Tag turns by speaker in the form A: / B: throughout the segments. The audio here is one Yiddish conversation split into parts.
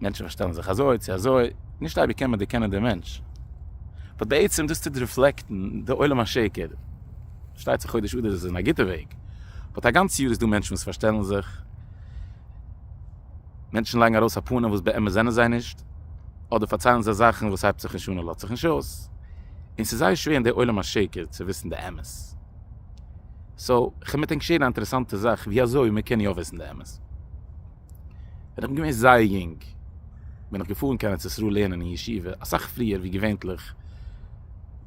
A: מענטשן פארשטעלן זיך אזוי צו אזוי, נישט אייביג קען מען דערקענען דעם מענטש, באט בעצם דאס טוט ריפלעקטן די עולם השקר, פארשטייט זיך חודש אדר איז אין א גוטע וועג, באט א גאנץ יאר איז דא מענטשן וואס פארשטעלן זיך, מענטשן לייגן ארויס א פנים וואס באמת זענען זיי נישט, אדער פארציילן זיי זאכן וואס הייבט זיך נישט אן און לאזט זיך נישט אויס, און ס'איז זייער שווער אין די עולם השקר צו וויסן די אמת. סאו, כ'מיט ענק שערן א אינטערעסאנטע זאך ווי אזוי מען קען יא וויסן די אמת. ווען איך בין געווען זייער יונג בין איך געפארן קיין ארץ ישראל לערנען אין ישיבה אסאך פריער ווי געווענליך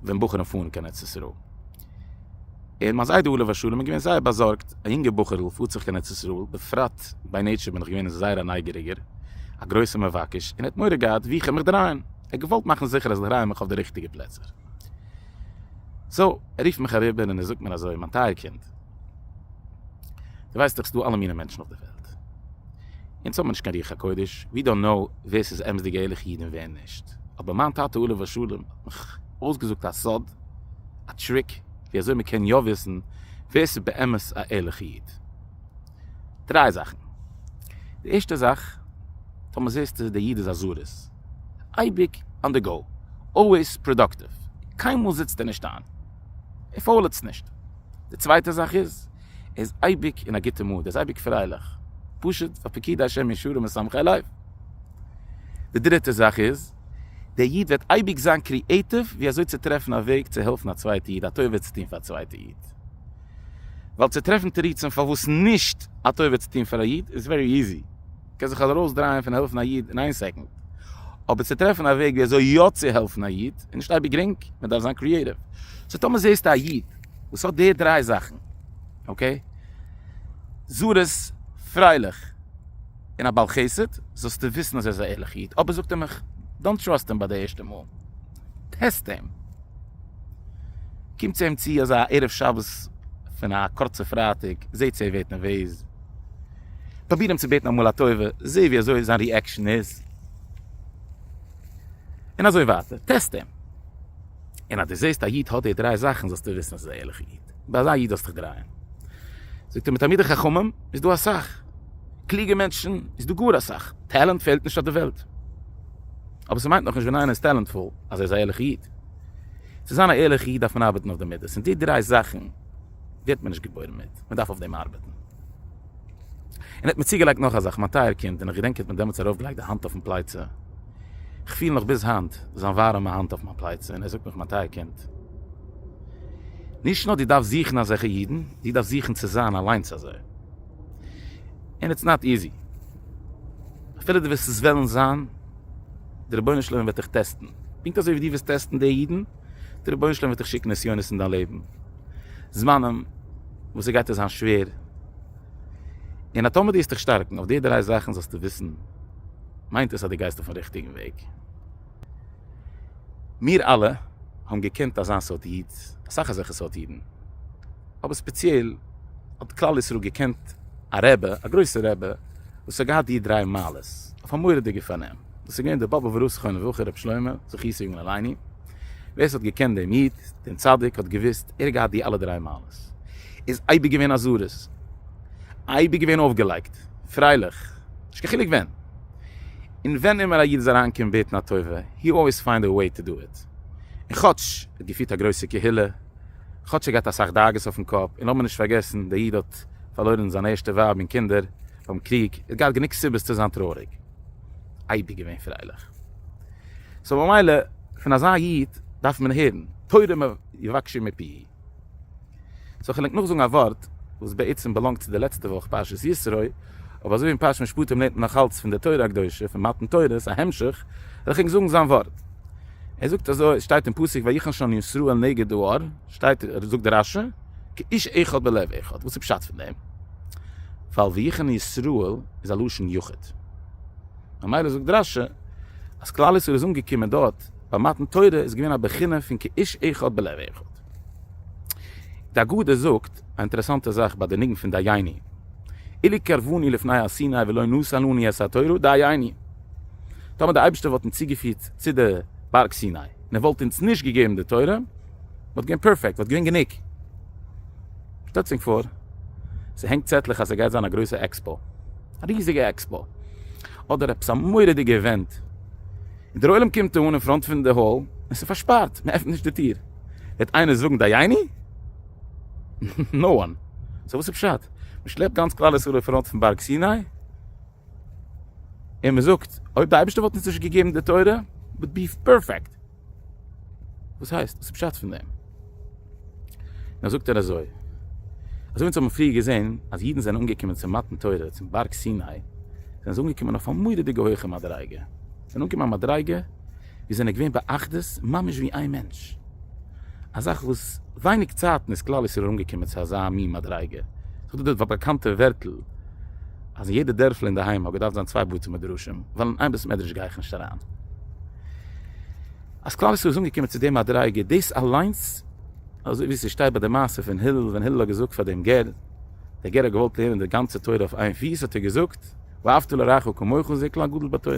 A: ווען בחורים פארן קיין ארץ ישראל. און מיין זיידע עליו השלום איז געווען זייער באזארגט, א יונגע בחור'ל פארט זיך קיין ארץ ישראל, בפרט ביי נעטשור בין איך געווען זייער א נייגעריגער, א גרויסער מבקש, און ער האט מורא געהאט וואו איך וועל מיך דרייען, ער האט געוואלט מאכן זיכער אז איך דריי מיך אויף די ריכטיגע פלעצער. סאו, ער רופט מיך אריבער און ער זאגט מיר אזוי, מיין טייער קינד, דו ווייסט דאך ס'דא אלע מיני מענטשן אויף דער וועלט. אונז האבן מיר נישט קיין רוח הקודש, ווי דאנט נאו ווער ס'איז אמת'דיגע ערליכע אידן און ווער נישט. אבער מיין טאטע עליו השלום האט מיך אויסגעזאגט א סוד, א טריק ווי אזוי מ'קען יא וויסן ווער ס'איז באמת א ערליכע איד. דריי זאכן, די ערשטע זאך, טאמער מען זעהסט אז דער איד איז א זארעס, אייביג אן די גאו, אלוועיס פראדאקטיוו, קיינמאל זיצט ער נישט איין, ער פאולעצט נישט, די צווייטע זאך איז, ער איז אייביג אין א גוטע מוד, ער איז אייביג פרייליך, פשוט ווייל פקידי השם ישרים וסומכי לב, די דריטע זאך איז, דער איד וועט אייביג זיין קריעטיוו ווי אזוי צו טרעפן א וועג צו העלפן א צווייטע איד, א טובה צו טון פאר א צווייטע איד. ווייל צו טרעפן תירוצים פארוואס נישט א טובה צו טון פאר א איד איז ווערי איזי, קען זיך ארויס דרייען פון העלפן א איד אין איין סעקאנד, אבער צו טרעפן א וועג ווי אזוי יא צו העלפן א איד איז נישט אייביג גרינג, מען דארף זיין קריעטיוו, סאו טאמער זעסטו א איד וואס האט די דריי זאכן, אקעי, זריז, פרייליך, און א בעל חסד, זאלסטו וויסן אז ער איז א ערליכע איד, אבער זאגט ער מיך, דאנט טראסט אים ביי די ערשטע מאל. טעסט אים. קומט צו אים צו אזא ערב שבת פון א קורצע פרייטאג, זעט צו ער ווערט נערוועז. פרוביר אים צו בעטן אמאל א טובה, זע ווי אזוי זיין ריעקשאן איז. און אזוי ווייטער. טעסט אים. און אז דו זעסט א איד האט די דריי זאכן זאלסטו וויסן אז עס איז א ערליכע איד. ביי אזא איד זאלסטו דיך דרייען. זאגט ער מיר תלמידי חכמים איז דא אסאך. קלוגע מענטשן איז דא גאר אסאך. טעלענט פעלט נישט אויף די וועלט. אבער ס'מיינט נאכנישט ווען איינער איז טעלענטפול אז ער איז א ערליכע איד. צו זיין א ערליכע איד דארף מען ארבעטן אויף די מידות, און די דריי זאכן ווערט מען נישט געבוירן מיט, מען דארף אויף דעם ארבעטן. און ער האט מיר צוגעלייגט נאך א זאך, מיין טייער קינד, און איך געדענק ער האט מיר דעמאלטס ארויפגעלייגט די האנט אויפן פלייצע, איך פיל נאך ביז היינט זיין ווארעמע האנט אויף מיין פלייצע, און ער זאגט מיך, מיין טייער קינד, נישט נאר דו דארפסט זוכן אזעלכע אידן, דו דארפסט זוכן צו זיין אליינס אזוי. און איטס נאט איזי. אפילו דו וועסט עס וועלן זיין, דער רבונו של עולם וועט דיך טעסטן, פונקט אזוי ווי דו וועסט טעסטן די אידן, דער רבונו של עולם וועט דיך שיקן נסיונות אין דיין לעבן, זמנים וואס ס'גייט דיר זיין שווער, און אז טאמער דו וועסט דיך שטארקן אויף די דריי זאכן זאלסטו וויסן, מיינט עס אז דו גייסט אויפ'ן ריכטיגן וועג. מיר אלע האבן געקענט אזא סארט איד, אסאך אזעלכע סארט אידן, אבער ספעציעל האט כלל ישראל געקענט א רבי, א גרויסער רבי, וואס האט געהאט די דריי מעלות אויף א מורא'דיגע פארנעם, דאס איז געווען דער באבובער ראש זכרונו לברכה רבי שלמה זכות יגן עלינו, ווער ס'האט געקענט דעם איד, דעם צדיק, האט געוואוסט, ער האט געהאט די אלע דריי מעלות, ער איז אייביג געווען א זרז, אייביג געווען אויפגעלייגט, פרייליך, נישט קיין חילוק ווען. און ווען אימער א איד איז אריין געקומען בעטן א טובה, הי אלוועיס פיינד א וועי טו דא איט. און כאטש ער האט געפירט א גרויסע קהילה, כאטש ער געהאט אסאך דאגות אויפן קאפ, און לאמיר נישט פארגעסן דער איד האט פארלוירן זיין ערשטע ווייב און קינדער ביים קריג, ער האט געהאט גענוג סיבות צו זיין טרויעריג. אייביג געווען פרייליך. סאו ממילא פון אזא איד דארף מען הערן, תורה יבקשו מפי'. סאו כ'ענדיג נאכזאגן א ווארט וואס בעצם באלאנגט צו די לעצטע וואך פרשת ישרוי, אבער אזויווי אין פרשת משפטים לערנט מען נאכאלץ פון די תורה הקדושה פון מתן תורות א המשך, וועל איך ענק זאגן זיין ווארט. ער זאגט אזוי, עס שטייט אין פסוק ויחן שם ישראל נגד די אור, שטייט, זאגט דער רשע, כאיש אחד בלב אחד, וואס איז פשט פון דעם? ווייל ויחן ישראל איז א לשון יחיד. ממילא זאגט דער רשע אז כלל ישראל איז אנגעקומען דארט. ביי מתן תורה איז געווען א בחינה פון כאיש אחד בלב אחד. די אגדה זאגט א אינטערעסאנטע זאך ביי די ניגון פון דייני אלי קרבני לפני הר סיני ולא נשאלוני את התורה דייני טאמער די אייבערשטער וואלט אונז צוגעפירט צו די בארג סיני און ער וואלט אונז נישט געגעבן די תורה וואלט געווען פערפעקט וואלט געווען גענוג. שטעלטס ענק פאר ס'הענגט צעטלעך אז ס'גייט זיין א גרויסע עקספאו, א ריזיגע עקספאו, אדער עפעס א מורא'דיגע איווענט. דער עולם קומט אהן אין פראנט פון די האל און ס'איז פארשפארט, מען עפנט נישט די טיר. וועט איינער זאגן דייני? נאו וואן. סאו וואס איז פשט? מען שלעפט גאנץ כלל ישראל אין פראנט פון בארג סיני און מען זאגט, אויב די אייבערשטער וואלט אונז נישט געגעבן די תורה, וואלט בי פערפעקט. וואס הייסט? וואס איז פשט פון דעם? נאר זאגט ער אזוי, אזוי ווי אונז האבן פריער געזען אז אידן זענען אנגעקומען צום מתן תורה צום בארג סיני, זענען זיי אנגעקומען אויף א מורא'דיגע הויכע מדריגה, זיי זענען אנגעקומען א מדריגה ווי זיי זענען געווען באחדות ממש ווי איין מענטש, א זאך וואס ווייניג צייטן איז כלל ישראל אנגעקומען צו אזא מין מדריגה, זאגט ער דאס באקאנטע ווערטל אז אין יעדע דערפל אינדערהיים האט געדארפט זיין צוויי בתי מדרשים ווייל אין איין בית מדרש גיי איך נישט אריין. אז כלל ישראל איז אנגעקומען צו די מדריגה דאס אליינס אזוי ווי ס'שטייט ביי די מעשה פון הלל ווען הלל האט געזאגט פאר דעם גר, דער גר האט געוואלט לערנען די גאנצע תורה אויף איין פיס האט ער געזאגט ואהבת לרעך כמוך און זה כלל גדול בתורה.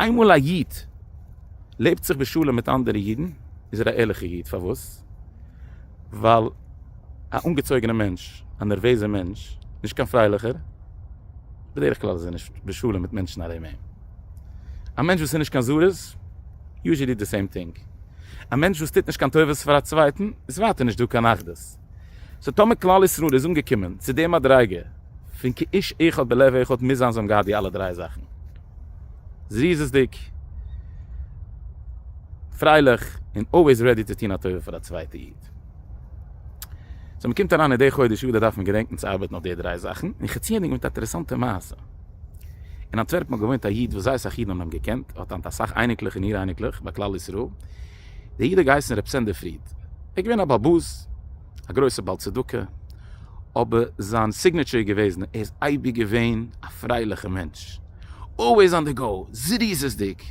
A: איינמאל א איד לעבט זיך בשלום מיט אנדערע אידן איז ער א ערליכע איד פארוואס ווייל א אנגעצויגענע מענטש א נערוועזע מענטש נישט קיין פרייליכער בדרך כלל איז ער נישט בשלום מיט מענטשן ארום אים. א מענטש וואס איז נישט קיין זריז, יוזשעלי די סעים טינג. א מענטש וואס טוט נישט קיין טובות פאר א צווייטן, איז ווייטער נישט דא קיין אחדות. סאו טאמער כלל ישראל איז אנגעקומען צו די מדריגה פון כאיש אחד בלב אחד מוז זיין זיי האבן געהאט די אלע דריי זאכן. זריזות'דיג, פרייליך, און אלוועיס רעדי צו טון א טובה פאר א צווייטע איד. געדענקט. סאו מען קומט אריין אין די חודש אדר דארף מען געדענקן צו ארבעטן אויף די דריי זאכן, און כ'צי ענדיגן מיט א אטערעסאנטע מעשה. אין אנטווערפן האט געוואוינט א איד וואס זייער סאך אידן האבן אים געקענט, ער האט היינט אסאך אייניקלעך און איר אייניקלעך ביי כלל ישראל, דער איד האט געהייסן ר' סענדר פריד, ער איז געווען א באבוז, א גרויסער בעל צדקה, אבער זיין סיגנעטשור איז געוועזן ער איז אייביג געווען א פרייליכע מענטש, אלוועיס אן די גאו, זריזות'דיג.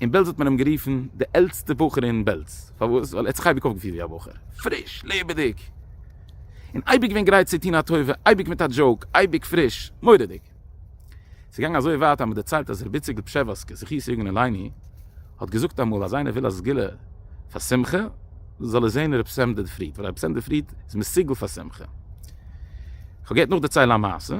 A: אין בעלז האט מען אים גערופן די עלטסטע בחור אין בעלז, פארוואס? ווייל ער האט זיך אייביג אויפגעפירט ווי א בחור, פריש, לעבעדיג, און אייביג געווען גרייט צו טון א טובה, אייביג מיט א דזשאוק, אייביג פריש, מורא'דיג. ס'איז געגאנגען אזוי ווייט אז מ'האט דערציילט אז רבי זיגל פשעווארסקער זכות יגן עלינו האט געזאגט אמאל אז איינער וויל א סגולה פאר שמחה זאל ער זען רבי סענדר פריד, ווייל רבי סענדר פריד איז מסוגל פאר שמחה. כ'וועל גערט נאכדערציילן א מעשה.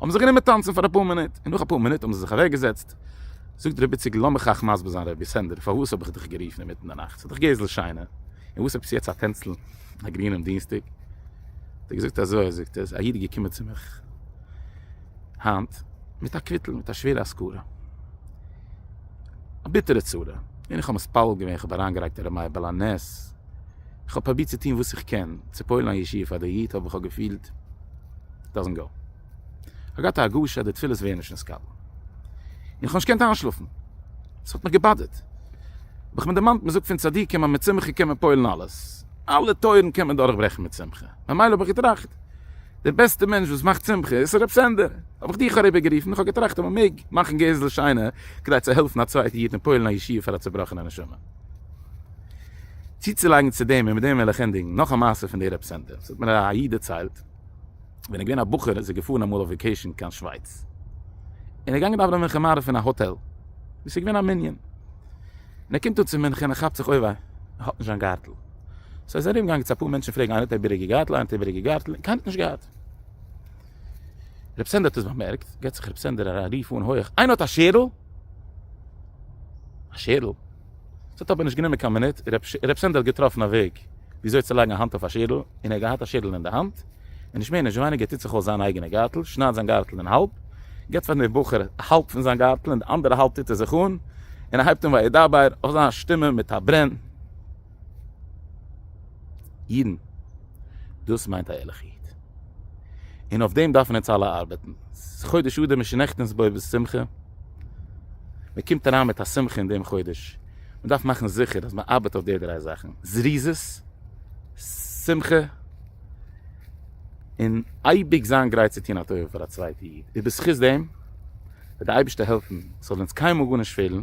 A: האבן זיך גענומען טאנצן פאר אפאר מינוט, און נאך אפאר מינוט האבן זיי זיך אוועק געזעצט, זאגט ר' איציק לאמיך אייך מסביר זיין רבי סענדער פארוואס האב איך דיך גערופן אינמיטן די נאכט, ס'איז דאך גזל שינה, און וואס האבסטו יעצט א טענצל א גרינעם דינסטאג, האט ער געזאגט אזוי, זאגט ער, ס'איז א איד געקומען צו מיך היינט מיט א קוויטל מיט א שווערע השכרה, א ביטערע צרה, און איך האב מתפלל געווען, איך האב אריינגערייגט הרב מאיר בעל הנס, איך האב פרובירט צו טון וואס איך קען, צו פועל'ן א ישועה פאר די איד, אבער איך האב געפילט. דאזענט גאו. איך געהאט א הרגשה אז די תפילות ווערן נישט נתקבל. און כ'האב נישט געקענט איינשלאפן. עס האט מיך געבאדערט. האב איך מיר דערמאנט, מ'זאגט פון צדיקים אז מיט שמחה קען מען פועל'ן אלעס. אלע טויערן קען מען דורכברעכן מיט שמחה. ממילא האב איך געטראכט, דער בעסטער מענטש וואס מאכט שמחה איז הרב סענדער. האב איך דיך אריבערגערופן. איך האב געטראכט אז מ'מעג מאכן געזל שיינער כדי צו העלפן א צווייטע איד און פועל'ן א ישועה פאר א צובראכענע נשמה. צוצולייגן צו דעם און מיט דעם וועל איך ענדיגן, נאך א מעשה פון די רעפסענטער, ס'האט מיר א א איד דערציילט, ווען ער איז געווען א בחור איז ער געפארן אמאל אויף וועקעישן קיין שווייץ, און ער איז געגאנגען דאווענען מנחה מעריב אין א האטעל, וואו ס'איז געווען א מנין, און ער קומט אן צו מנחה און ער כאפט זיך אוי וויי, ער האט נישט זיין גארטל, סאו איז ער ארום געגאנגען צו אפאר מענטשן פרעגן איינער האט איבעריגע גארטל איינער האט איבעריגע גארטל, קיינער האט נישט געהאט. רב סענדער האט עס באמערקט, געט זיך רב סענדער א רוף אן הויעך, איינער האט א שערל? א שערל? עס האט אבער נישט גענומען קיין מינוט, רב סענדער האט געטראפן א וועג ווי אזוי צו לייגן א האנט אויף א שערל, און ער האט געהאט א שערל אין די האנט, און נישט מער נישט ווייניגער טוט זיך אויס זיין אייגענע גארטל, שניידט זיין גארטל אין האלב, געט פאר דעם בחור האלב פון זיין גארטל און די אנדערע האלב טוט ער זיך אן, און ער הייבט אן וידבר אויף זיין שטימע מיט א ברען. אידן, דאס מיינט א ערליכע איד. און אויף דעם דארפן אונז אלע ארבעטן. חודש אדר מען שנעקט אונז בו בשמחה. מען קומט אריין מיט א שמחה אין דעם חודש. מען דארף מאכן זיכער אז מען ארבעט אויף די דריי זאכן. זריזות, שמחה, און אייביג זיין גרייט צו טון א טובה פאר א צווייטע איד. איז בזכות דעם וועט די אייבערשטער העלפן ס'זאל אונז קיינמאל גארנישט פעלן.